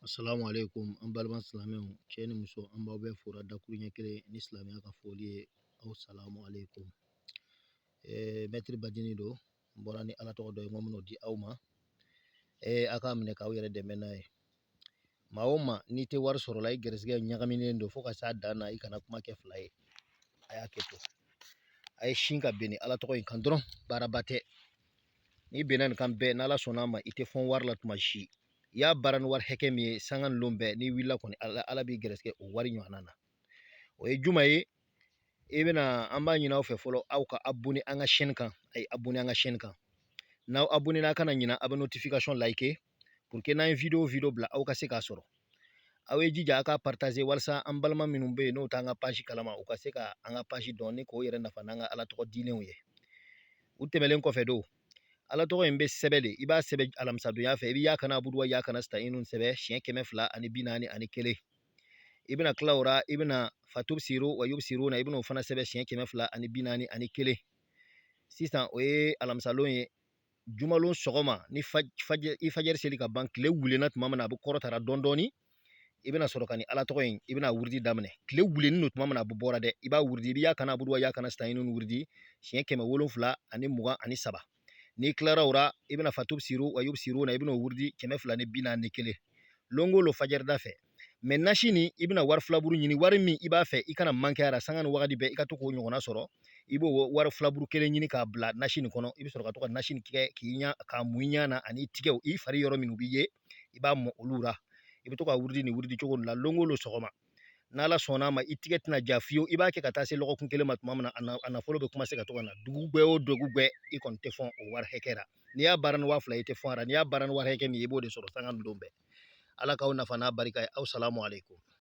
Assalamu alaikum an balima silamɛw cɛ ni muso an b'aw bɛɛ fora dakuruɲɛ kelen ni silamɛya ka foli ye aw salamu alaikum mɛtiri badini don n bɔra ni ala tɔgɔ dɔ ye n ko min'o di aw ma a k'a minɛ k'aw yɛrɛ dɛmɛ n'a ye maa o maa n'i tɛ wari sɔrɔ la i gɛrɛsɛgɛ ɲagaminen don fo ka s'a dan na i kana kuma kɛ fila ye a y'a kɛ to a ye sin ka bɛn ni ala tɔgɔ in kan dɔrɔn baaraba tɛ n'i bɛnna nin kan bɛɛ n'ala sɔnna a ma i tɛ fɔn wari la tuma si i y'a baara ni wari hakɛ min ye sanga ni lon bɛɛ n'i wulila kɔni ala ala b'i gɛrɛsɛgɛ o wari ɲɔgɔnna na o ye juma ye i bɛna an b'a ɲini aw fɛ fɔlɔ aw ka abonné an ka chaîne kan a ye abonné an ka chaîne kan n'aw abonné n'a kana ɲina a bɛ notification liker pour que n'an ye video o video bila aw ka se k'a sɔrɔ aw ye jija aw ka partager walasa an balima minnu bɛ yen n'o t'an ka page kalama u ka se ka an ka page dɔn ni k'o yɛrɛ nafa n'an ka ala tɔgɔ dilenw ye u tɛmɛlen kɔfɛ don ala tɔgɔ in bɛ sɛbɛn de i b'a sɛbɛn alamisadonya fɛ i bɛ yaaka naabudu wa yaaka nasitayinu sɛbɛn siɲɛ kɛmɛ fila ani bi naani ani kelen i bɛna kila o la i bɛna fatubsiro wa yubsirona i bɛna o fana sɛbɛn siɲɛ kɛmɛ fila ani bi naani ani kelen sisan o ye alamisalon ye jumalon sɔgɔma ni i fajɛri seli ka ban tile wulenna tuma min na a bɛ kɔrɔta ra dɔɔnin dɔɔnin i bɛna sɔrɔ ka ni ala tɔgɔ in i bɛna wurudi daminɛ tile wulilen don tuma min na a bɛ bɔra dɛ i b'a wurudi i bɛ yaaka naabudu wa yaaka nasitayinu wurudi siɲɛ kɛmɛ wolonwula ani mugan ani saba n'i kilara o la i bɛna fatubsiro wa yubsirona i bɛna o wurudi kɛmɛ fila ni bi naani ni kelen lon o lon fajɛrida fɛ mais nasi nin i bɛna wari filaburu ɲini wari min i b'a fɛ i kana manqué a ra sanga ni wagati bɛɛ i ka to k'o ɲɔgɔnna sɔrɔ i b'o wari filaburu kelen ɲini k'a bila nasi nin kɔnɔ i bɛ sɔrɔ ka to ka nasi nin kɛ k'i ɲa k'a mun i ɲa na an'i tigɛw i fari yɔrɔ minnu bɛ ye i b'a mɔ olu la i bɛ to ka wurudi nin wurudi cogo la lon o lon sɔgɔma n'ala sɔnn'a ma i tigɛ tɛna ja fiyewu i b'a kɛ ka taa se lɔgɔkun kelen ma tuma min na a nafolo bɛ commencer ka to ka na dugugwɛ o dugugwɛ i kɔni tɛ fɔn o wari hakɛ la n'i y'a baara ni waa fila i tɛ fɔn a la n'i y'a baara ni wari hakɛ min ye i b'o de sɔrɔ sanga ni don bɛɛ ala k'aw nafa n'a barika ye aw salamu aleykum